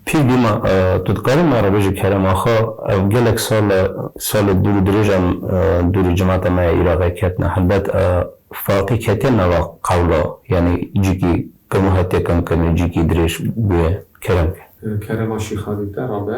Pîr bîma tu dikarî ma re bêjî kerem axa ev gelek sal e salê dûr û dirêjan dûr û cemata me ya Îraqê ketine helbet Faqî ketiye nava qewla yanî cîkî keno hetiye kemkirîn û cîkî dirêj bûye kerem ke. Kerema Şîxalî te rabe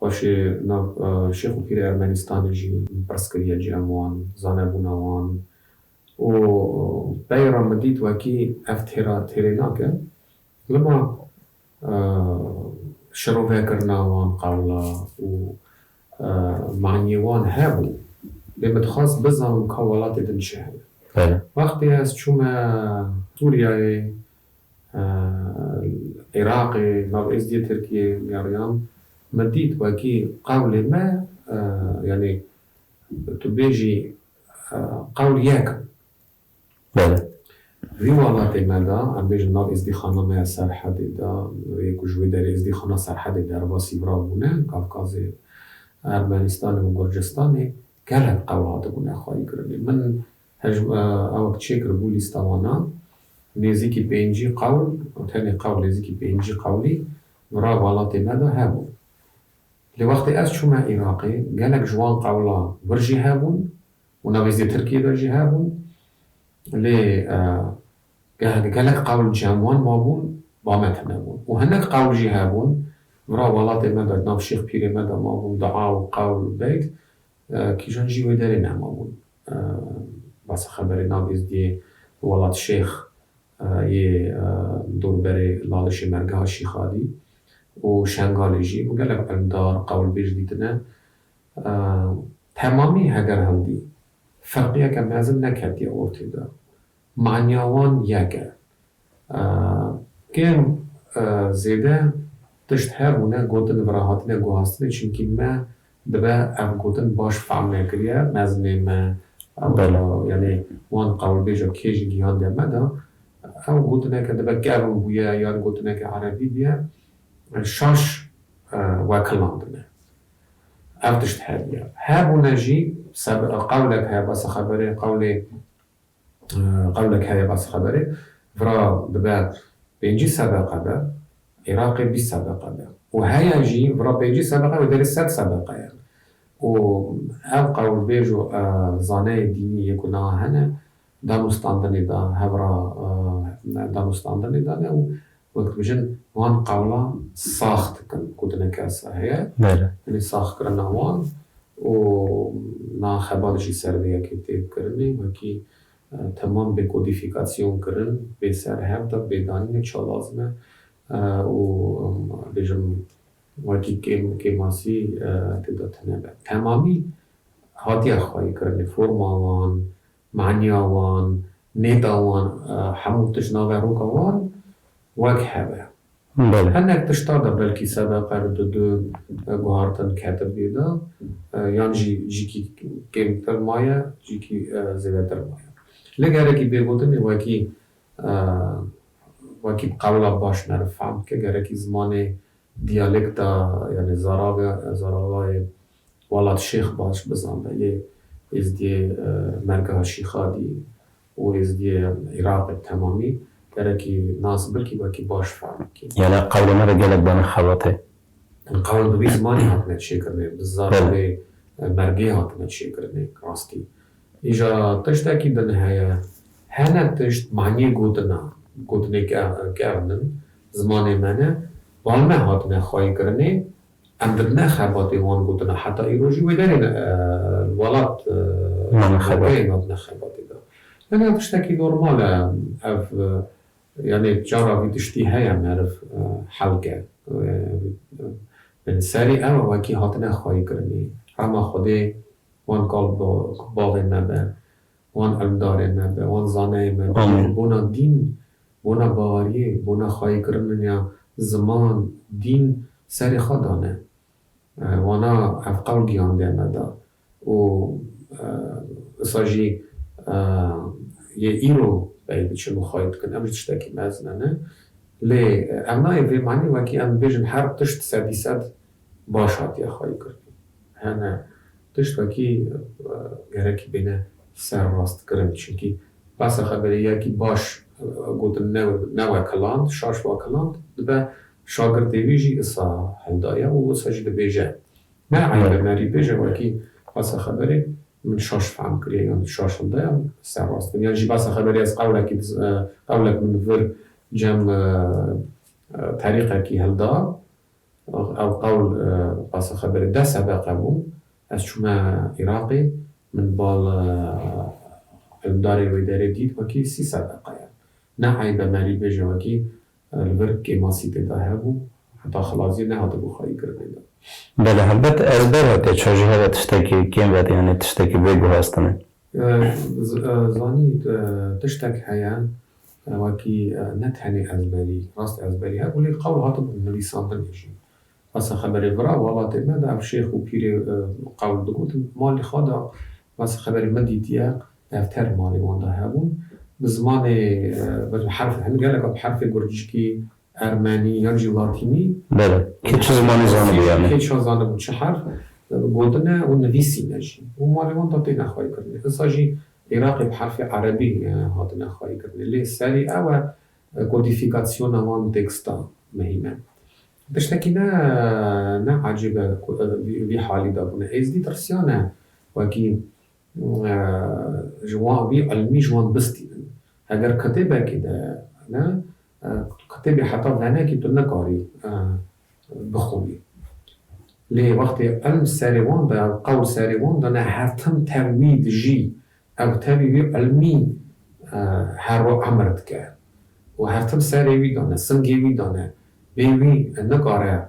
Paşê nav Şêx û Pîrê Ermenîstanê jî min pirs kiriye cî em wan zanebûna wan û pey ra min dît wekî ev têra têrê nake lima şirovekirina wan qawla û maniyê wan hebû lê min dixwest bizanim ka welatê din çi heye. Wextê ez çûme Sûriyayê Iraqê, nav Êzidiyê Tirkiyê nêriyan. Min dît wekî qewlê me yanî tu bêjî qewl yek in. Vî welatê me de em bêjin nav Êzidîxana me ya Serhedê de yê ku ji wê derê Êzidîxana Serhedê derva sîvrav bûne Kavkazê, Ermenîstanê û Gurcistanê gelek qewl hatibûne xwayîkirinê. Min Hejm a aw ke çêkir bû lîsta wan a, nêzîkî pêncî qewl û tenê qewl nêzîkî pêncî qewlî bi ra welatê me de hebû. Lê wextê ez çûme Îraqê gelek ji wan qewla wir jî hebûn û navê zê Tirkiyê de jî hebûn. Lê geh gelek qewl cem wan mabûn ba me tune bûn û hinek qewl jî hebûn bi ra welatê me de di nav şêx pîrê me de mabûn, dua û qewl û beyt Kîjan jî wê derê ne mabûn. Basa xeberê nav Êzdiyê li Welat Şêx yê dorberê Lalişê Mergeha Şîxadî û Şengalê jî ku gelek îlmdar, qewilbêj dîtine temamî heger hildî firqiyeke mezin neketiye ortê de. Manya wan yek e. Kêm zêde tişt hev bûne gotin bi ra hatine guhastinê çimkî me dibe ev gotin baş fehm nekiriye mezimê me yanî wan qewilbêja kê ji gihan de me da. Ew gotineke dibe kevn bûye yan gotineke erebî bûye şaş wekilandine. Ev tişt hev ye. Hebûne jî qewlek heye besa xeberê qewlê Qewlek heye basî xeberê vira dibe pêncî sedeqe be Iraqê bîst sedeqe be û heye jî vira pêncî sedeqe wê derê sed sedeqe ye û ev qewlbêj û zaneyê dînî yê ku niha hene danûstandinê de hevra danûstandinê de ne û Wek dibêjin wan qewla sax dikin gotineke esa heye tenê sax kirina wan û na xebat jî ser vê yekê tê kirinê wekî temam bê kodîfîkasyon kirin bê ser hev de bê danînê ça lazim e û bêjim wekî kêm kêmasî tê de tune be. Temamî hatiye xwayê kirinê forma wan Manya wan, nêda wan hemû tişt navê roka wan wek hev e. Hinek tiştan de belkî sedeqer di du guhartin ketin bîr de yan jî cîkî kêmtir maye cîkî zêdetir maye. Lê gerekî bê gotinê wekî wekî bi qewla baş meriv fehm dike gerekî zimanê diyalekta yanê zaravê zaravayê Wala tu şêx baş bizan be lê êzdiyê mergeha şîxadî û êzdiyê Îraqê bi temamî gerekî nas bikî wekî baş fehm bikî. Yane qewlê me de gelek bane xebatê. Hin qewl bi vî zimanî hatine çêkirinê, bi zarokê mergê hatine çêkirinê rastî. Îja tiştekî din heye, hene tişt manîyê gotina, gotinê ke ev nin zimanê me ne, bane hatine xwayîkirinê Em di ne xebatê wan gotin e. Heta îro jî wê derê li welat Tirkiyeyê ne di ne xebatê de. Yanî ev tiştekî normal e. Ev yanî cara vî tiştî heye meriv hel ke. Yanî serî ew e wekî hatine xwayîkirinî. Rehma Xwedê wan kal bi bavên me be. Wan evdarê me be, wan zaneyê me be, wan bona dîn, bona baweriyê, bona xwayîkirininya ziman, dîn serê xwe dane. Wana ev qewl giyandiya me da û wisa jî yê îro pey diçin û xwayî dikin. Em ji tiştekî mezine ne. Lê ev nayê vê manê wekî em bibêjin her tişt sedî sed Baş hatiye xwayî kirin. Hene tiştekî gerekî bêne serrastkirin. Çimkî behsa xeberê ya kî baş gotin ne ne wekiland, şaş wakiland dibe şagirdê wî jî isa hewda ye û wisa jî dibêje ne eybe me rî bêje wekî behsa xeberê min şaş fehm kiriye yan tu şaş hewda ye serrast bin. Yan jî behsa xeberê ez qewlekî diz qewlek min vir cem terîqekî hewda Ax ew qewl qasa xeberê deh sedeqe bû. Ez çûme Îraqê min bal îlmdarê wê derê dît wekî sî sedeqe ye. Ne eyb e merî bêje wekî li vir kêmasî tê de hebû heta xilaziyê nehatibû xayî kirinê de. Belê helbet ez derwekê çû jî hebe tiştekî kêm ve yanî tiştekî bê guhestinê. Zanî tiştek heye Wekî ne tenê ezberî, rast ezberî hebû lê qewl hatibûn nivîsandinê jî. Besa xeberê vira welatê me de ev şêx û pîrê qewl digotin. Malê xwe de besa xeberê min dîtiye defter malê wan de hebûn. Bi zimanê, bi herf, hin gelek bi herfê gurcikî Ermenî yan jî Latînî. Bele. Kê çi zimanê zanibû yanî. Kê çi zanibû çi herf gotine û nivîsîne jî û malê wan de têne xwayîkirinê. Insa jî Iraqê bi herfê Erebî hatine xwayîkirinê. Lê serî ew e kodîfîkasyona wan têkstan muhîm e. Tiştekî ne ne ecêb e ku ev vî halî de bûne. Êzdî tirsiyane wekî Ji wan vî ilmî ji wan bistî bin. Heger kitêbekî de ne, kitêbê heta venekî tu nikarî bixwînî. Lê wextê ilm serê wan de, qewl serê wan de ne her tim tev wî dijî. Ew tevî wî ilmî her roj emir dike û her tim serê wî de ne, singê wî de ne. Bê wî nikare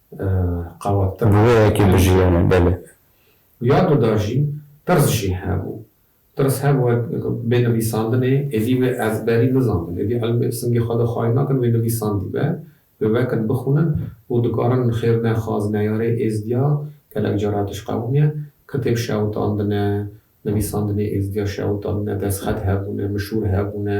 Qawet tirz. Bi vê yekê bijiyane belê. Ya du da jî tirz jî hebû. Tirz hebû wek bê nivîsandinê êdî wê ezberî nizanibin. Êdî elm ê singê xwe de xayîr nakin wê nivîsandî be. Wê wekin bixwînin û dikarin xêr ne xaz neyarê êzdîya gelek cara tişt qewimiye. Kitêb şewitandine, nivîsandinê êzdîya şewitandine, destxet hebûne, mişûr hebûne.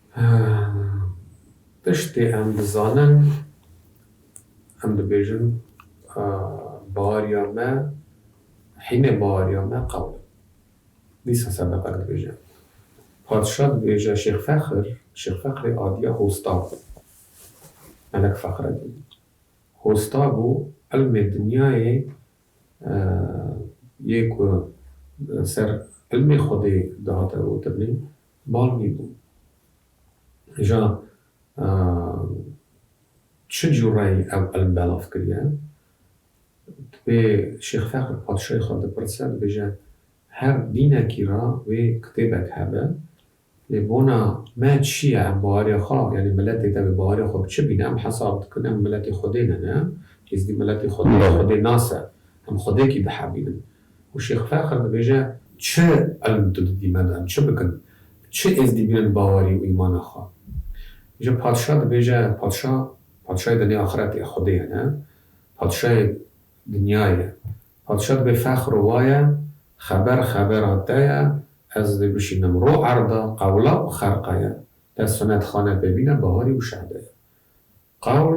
Tiştê em dizanin, em dibêjin bariya me hînê bariya me qewl e. Dîsa ser deqek dibêje. Padşa dibêje Şêx Fexir, Şêx Fexirê adiya Hosta bû. Melek Fexredîn. Hosta bû ilmê dinyayê yê ku li ser ilmê xwedê dihate gotinîn Bal wî bû. Ja çi cûreyî ew ilm belav kiriye? Dibê Şêx Feqir patişayê xwe bipirse, dibêje her dînekî ra wê kitêbek hebe. Lê bona me çi ye? Em bawerê xwe, yanî miletê te wê bawerê xwe bi çi bîne? Em hesab dikin em miletê Xwedê ne ne. Êzidî miletê Xwedê ye, Xwedê nas e. Em Xwedekî dihevînin. Ku Şêx Ferqad dibêje çi ilm tu didî me dan, çi bikin, çi êzdî bînin bawerî û îmana xwe. Îja patişa dibêje, patişa, patişayê demê axirete ye, Xwedê ye ne, patişayê dinyayê ye. Patişa dibê fexr û waye, xeber xebera te ye, ez dê bişînim ro erda, qewla û xerqa ye. Te sinet xane pê bîne bawerî û şehde ye. Qewl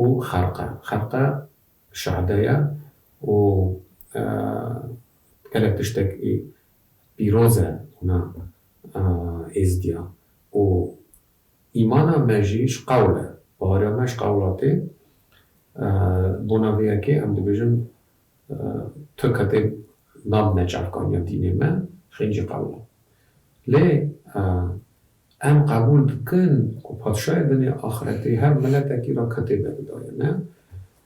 û xerqe. Xerqe şehde ye û gelek tiştek ê pîroz e ona êzdiya û îmana me jî ji qewl e. Baweriya me ji qewla tê. Bona vê yekê em dibêjin tu ketê nabine çavkaniya dînê me, xêncî qewla. Lê Em qebûl dikin ku Patşayê Dinya Axretê her miletekî re ketê beridaye ne.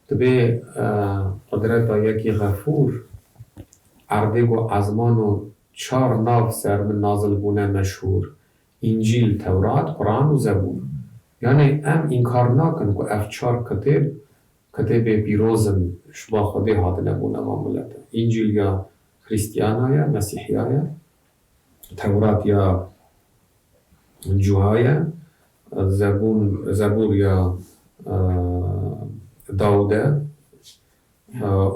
Divê qudreta yekî Xefûr erdê ku ezman û çar nav ser min nazil bûne meşhûr, Încîl, Tewrat, Quran û Zebûr. Yanê em înkar nakin ku ev çar kitêb, kitêbê pîroz in, ji bo Xwedê hatine bûne van milete. Încîl ya Xrîstiana ye, Mesîhiya ye, Tewrat ya cuha ye, zebûn, zebûr ya Dawûd e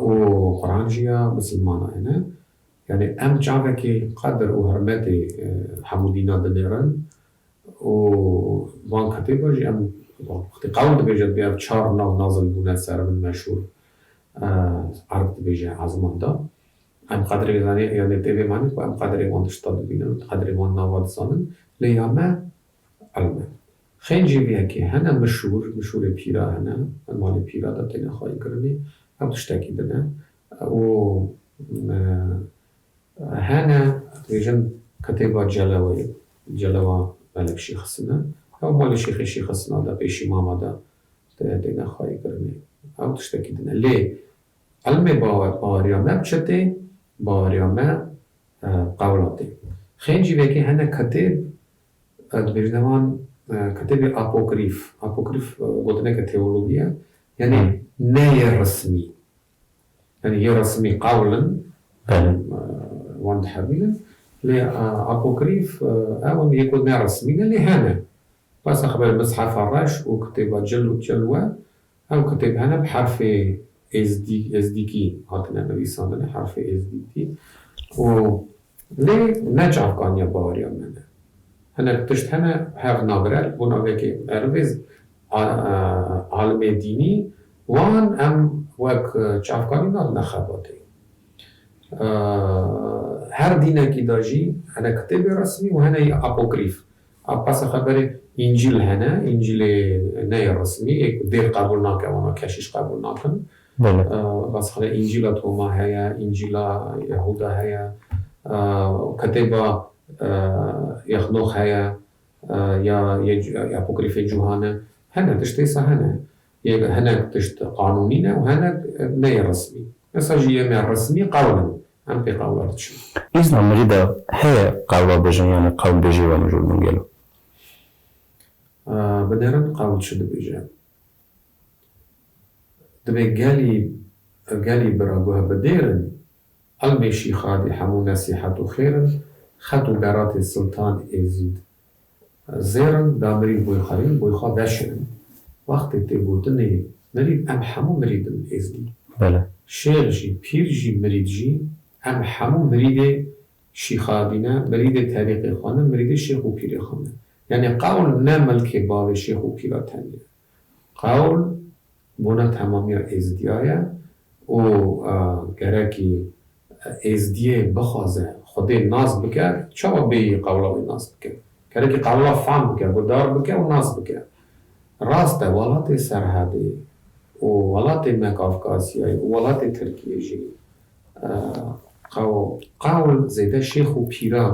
û Quran jî ya misilmanan e. Yanî em çavekê qedir û hirmetê hemû dînan dinêrin û van kitêban jî em wextê qewl dibêje dibê ev çar nav nazil bûne ser min meşhûr erd dibêje ezman de. Em qadirê zanîn yanê dê vê manê ku em qadirê wan tişta dibînin û qadirê wan nava dizanin lê ya me ilm e. Xêr jî vê yekê hene mişûr, mişûrê pîra hene, di malê pîra de têne xwayîkirinê, ew tiştekî din e û hene dibêjin kitêba Celeweyê, Celewa Melek Şêxisîn e, ew malê Şêxê Şêxisîna de, Pêşîmama de têne xwayîkirinê, ew tiştekî din e. Lê Em ê baweriya me bi çi tê? Baweriya me qewla tê. Xêr jî vekê hene kitêb, dibêjine wan kitêbê apokrîf. Apokrîf gotineke teologî ye, yanî ne yê rismî. Yanî yê rismî qewl in, wan dihevînin, lê apokrîf ew in yê ku ne rismî ne lê hene. Bes e xeber e Mishefa Reş û kitêba Cil û Cil we Ew kitêb hene bi herfê êzdî, ezdîkî, hatine nivîsandin, herfê êzdîkî û lê ne çavkaniya baweriya me ne. Hinek tişt hene hev nagire li bo navekê merivê alimê dînî wan em wek çavkanî nadine xebatê. Her dînekî de jî hene kitêbê resmî û hene yê apokrîf. Abbasê xwe berê Încîl hene, Încîlê ne yê resmî yê ku dêr qebûl nake wana keşîş qebûl nakin. Abbasê xwe de Încîla Toma heye, Încîla Yehûda heye, Ketêba Yexnox heye ya yê Apokrîfê Cuhane. Hene tişt dîsa hene. Yê hinek tişt qanûnî ne û hinek ne yê resmî. Dîsa jî yê me resmî qewl in. Em pê qewla diçin. Îzna mirî de heye qewla bijin yanî qewl bêjê we mijûl min gelo? Bi derin qewl çi dibêje? Dibê gelî gelî bira guhe bi dêr in. Elmê Şîxadî hemû nesîhet û xêr in. Xet û beratê Siltan Êzîd Zêrin da mirî boy xwe rîn, boy xwe veşirin. Wextê tê gotinê mirî em hemû mirîd in êzidî. Şêx jî, pîr jî, mirîd jî, em hemû mirîdê şîxardî ne, mirîdê terîqê xwe ne, mirîdê şêx û pîrê xwe ne. Yanî qewl ne milkê bavê şêx û pîra tenê ye. Qawl, bona temamiya Êzidiya ye û gerekî Êzidiyê bixwaze Xwedê nas bike, çawa bêyî qawla wî nas bike? Gerekî qawla fam bike, guhdar bike û nas bike. Rast e, welatê Serhedê û welatê me Kafkasyayê û welatê Tirkiyê jî qawl zêde şêx û pîran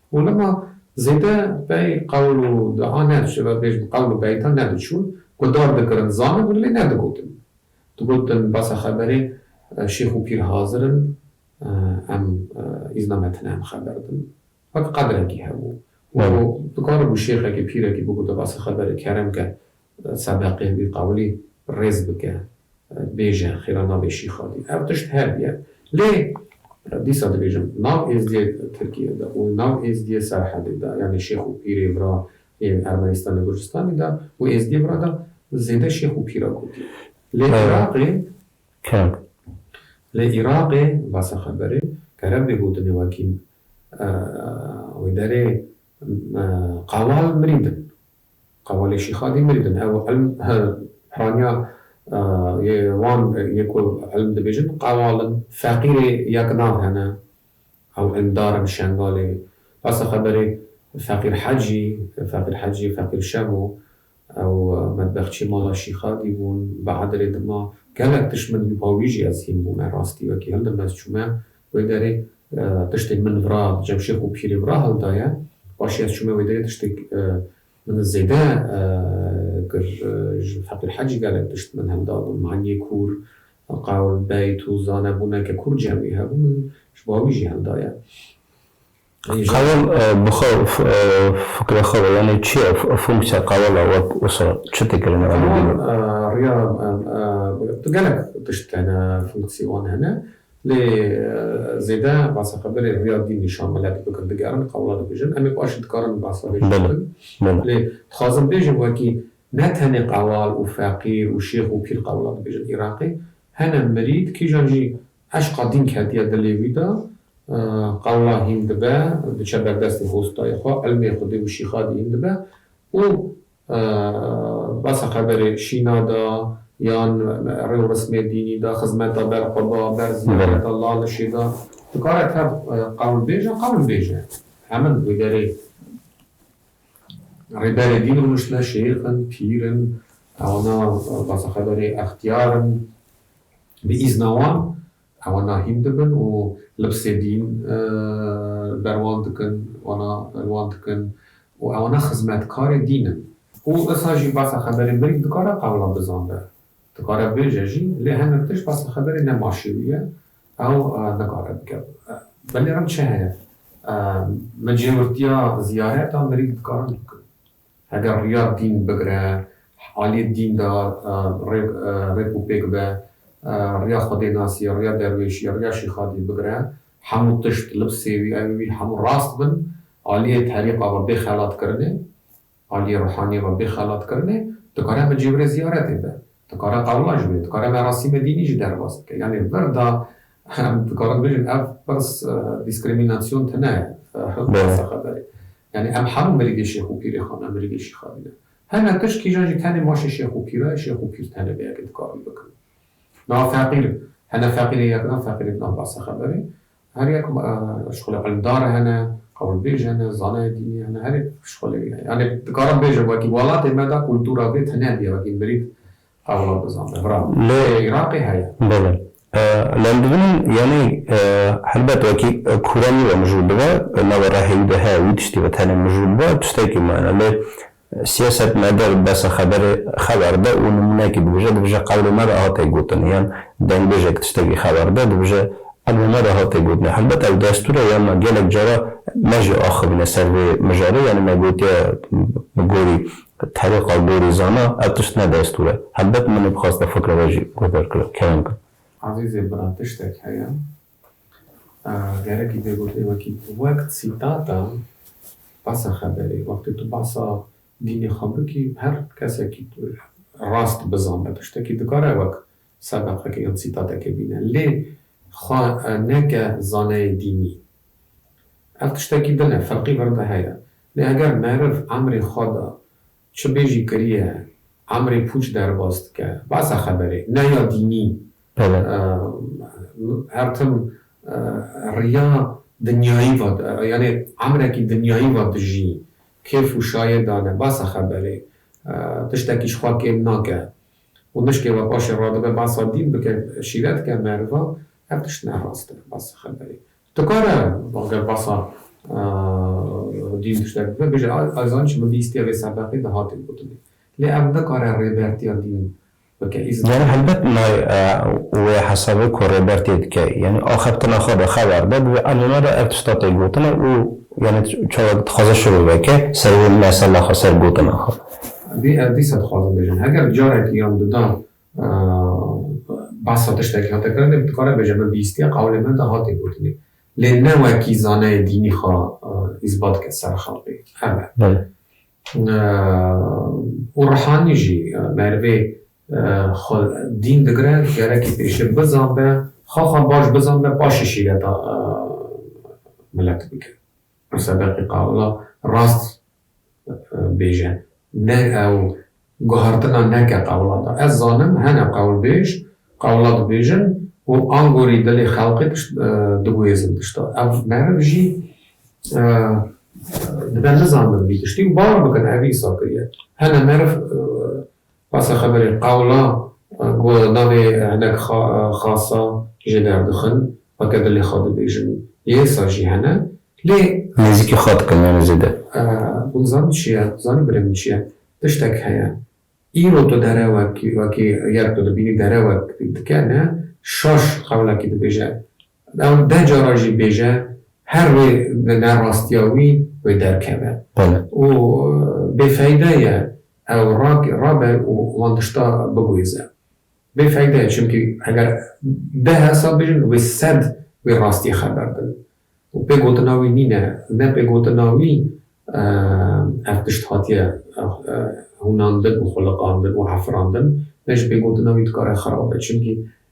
Holama zêde bey qewl û dua ne, tu şêwek bêjin qewl û beyta ne diçûn, guhdar dikirin, zanibûn lê ne digotin. Digotin basa xeberê şêx û pîr hazir in, em îzna me tune em xeber din. Wek qedrekî hebû. Wero dikaribû şêxekî, pîrekî bigota basa xeberê kerem ke Sedeqê wî qewilî rêz bike, bêje xêra nabê Şîxalî. Ev tişt hev ye. Lê dîsa dibêjim, nav Êzdiyê Tirkiyê de û nav Êzdiyê Serhedê de, yanî Şêx û Pîrê vira yên Ermenistanê Gurcistanê de û Êzdiyê vira de zêde Şêx û Pîr a gotiye. Lê Iraqê, lê Iraqê basa xeberê kerem bê gotinê wekî wê derê qewal mirîndin. Qawalê Şîxa dî mendin. Ew ilm piraniya yê wan yê ku ilm dibêjin qawal in. Feqîrê ya ki nav hene ew indar in Şengalê. Besa xeberê Feqîr Hecî, Feqîr Hecî, Feqîr Şemo ew medbexçiyê mala Şîxa dî bûn. Bi Edirê dima gelek tişt min dî û pa wî jî ez hîn bûme. Rastî wekî hildime ez çûme Wê derê tiştê min vira Cemşêx û Pîrê vira hewl daye. Paşê ez çûme wê derê tiştê min zêde kir. Ji Fethul Hecî gelek tişt min hewl dabûn. Maniyê kûr, qawl, beyt û zanebûneke kûr cem wî hebû. Min ji bo wî jî hewl daye. Qawel bi xwe û fikirê xwe ve yanî çi ye? Fonksîya qawela we wisa çi dikirin? Qawel riya gelek tişt hene fonksî wan hene lê zêde basa xwe berê riya dîn nîşan mele di bikin digerin qawela dibêjin em ê paşî dikarin basa vê jî bikin lê dixwazim bêjim wekî ne tenê qawel û feqîr û şêx û pîr qawela dibêjin Îraqê hene mirîd kîjan jî Eşqa din ketiye dilê wî de, qewla hîn dibe, diçe berdestê hostayê xwe, ilmê xwe dê û şîxa dî hîn dibe û basa xeberê şîna de yan rê û rismê dînî de, xizmeta ber xwe de, ber ziyafeta lalişê de dikare tev qewilbêj e, qewil bêj e. Hemin wê derê rêberê dîn û nuştine şêx in, pîr in, ewna basa xeberê extiyar in. Bi îzna wan ewan nahîm dibin û libsê dîn li ber wan dikin, wana li wan dikin û ewana xizmetkarê dîn in. Û issa jî basa xeberê mirî dikare qewla bizanbe, dikare bêje jî lê hinek tişt basa xeberê ne maşêwî ye ew nikare bike. Belê min çi heye? Min cêwirtiya ziyareta mirî dikarin bikin. Heger riya dîn bigire, aliyê dîn de rêk û pêk be, riya xwedênasiyê, riya derwêşiyê, riya şîxadiyê bigire, hemû tişt, libsê wî, evê wî hemû rast bin, aliyê terîqa ve bê xelatkirinê, aliyê ruhaniyê ve bê xelatkirinê, dikare bi cêwirê ziyaretê be, dikare qewla jî be, dikare merasîmê dînî jî derbas bike. Yanî vir de Em dikarin bijîn ev pirs dîskrîmînasyon tune ye, hil qasa xeberê. Yanî em hemû mirîdê Şêx û Pîrê xwe ne, mirîdê Şîxa dî ne. Heme tişt kîjan jî tenê maşê Şêx û Pîra ye, Şêx û Pîr tenê vê yekê dikarîn bikin. Niha feqîr, hene feqîrên yekna, feqîrên nav qasa xeberê. Her yek şixulê îlimdar hene, qewilbêj hene, zanayê dînî hene, her yek şixulê wî ye. Yanî dikarin bêjin wekî welatê me de kultura vê tune bîye, wekî mirîd Hevra Dozan de bravo. Lê Îraqê heye. Belê. Lê em dibînin yanî helbet wekî kûra nî ve mijûl bibe, nava rehê wî de heye wî tiştî ve tenê mijûl bibe tiştekî mayne. Lê siyaset me der besa xeberê xeber de û nimûneyekî dibije, dibije qewlê me de hate gotin yan dengbêjek tiştekî xeber de dibije emrê me de hate gotinê. Helbet ew destûr e yan na gelek cara me jî axivîne ser vê mijarê yanî me gotiye bi gorî Bi terîqa gorîzana ev tişt ne destûr e. Helbet min nêdixwaste fikra we jî guh derkeve. Kerem kir. Azîzê bira tiştek heye gerekî pê gotê wekî wek sîtata basa xeberê. Wextê tu basa dînê xwe bikî her kesekî rast bizane tiştekî dikare wek Ser berxeke yan sîtateke bîne. Lê xwe neke zaneyê dînî. Ev tiştekî din e, ferqî vir de heye. Lê eger meriv emrê xwe de çi bê jî kiriye, emrê pûç derbas dike, behsa xeberê ne ya dînî, her tim riya dinyayî ve, yanî emrekî dinyayî ve dijî, kêf û şayê dane, behsa xeberê, tiştekî ji xwe kêm nake. Û mişkê ve paşê radibe behsa dîn bike, şîret ke, meriva, ev tişt ne rast e, behsa xeberê. Dikare eger behsa dîn tiştek bibe bêje ez zanîbûm min bîstiye vê sebeqê di hate gotinê. Lê ev nikare rêbertiya dîn bike îzin Yanî neda. helbet nayê wê hesabê ku rêbertiyê dike. Yanî axaftina xwe de xeber de divê a nûne de ev tişta tê gotine û yanî çawa dixwaze şurû veke ser wê mesela xwe, ser gotina xwe. Divê ev dîsa dixwazin bêjin. Heger carekî yan duda behsa tiştekî hate kirin dê dikare bêje min bihîstiye qewlê me de hate gotinê. Lê ne wekî zaneyê dînî xwe îsbat bike ser xelkê. Ev e. Û rihanî jî merivê xwe dîn digire gerekî pêşê bizanbe, xwe xwe baş bizanbe paşê şîreta milet bike. Pirsa deqîqa wila rast bêje ne ew guhartina neke qewla da. Ez zanim hene qewlbêj qewla dibêjin û angorî dilê xelqê tişt diguhêzin tişta. Ev meriv jî dibe nizandin vî tiştî û bawer bikin ev îsa kiriye. Hene meriv Pasa xeberê qewla ku navê hinek xasa jê derdixin a ke dilê xwe dibêjin yêsa jî hene lê. Nêzîkî xwe dikin yanî zêde. Hûn dizanîn çi ye? Dizanîn birê min çi ye? Tiştek heye. Îro tu derewekî wekî ger tu dibînî derewek dike ne şaş qewlekî dibêje. Ew deh cara jî bêje, her wê bi nerastiya wî wê derkeve û bêfeyde ye ew rabe û wan tişta bigwêze. Bêfeyde ye çimkî eger deh hesab bijin wê sed wê rastiyê xeber din û pê gotina wî nîne. Ne pê gotina wî ev tişt hatiye hûnandin û xwiliqandin û efirandin ne jî pê gotina wî dikare xerab be çimkî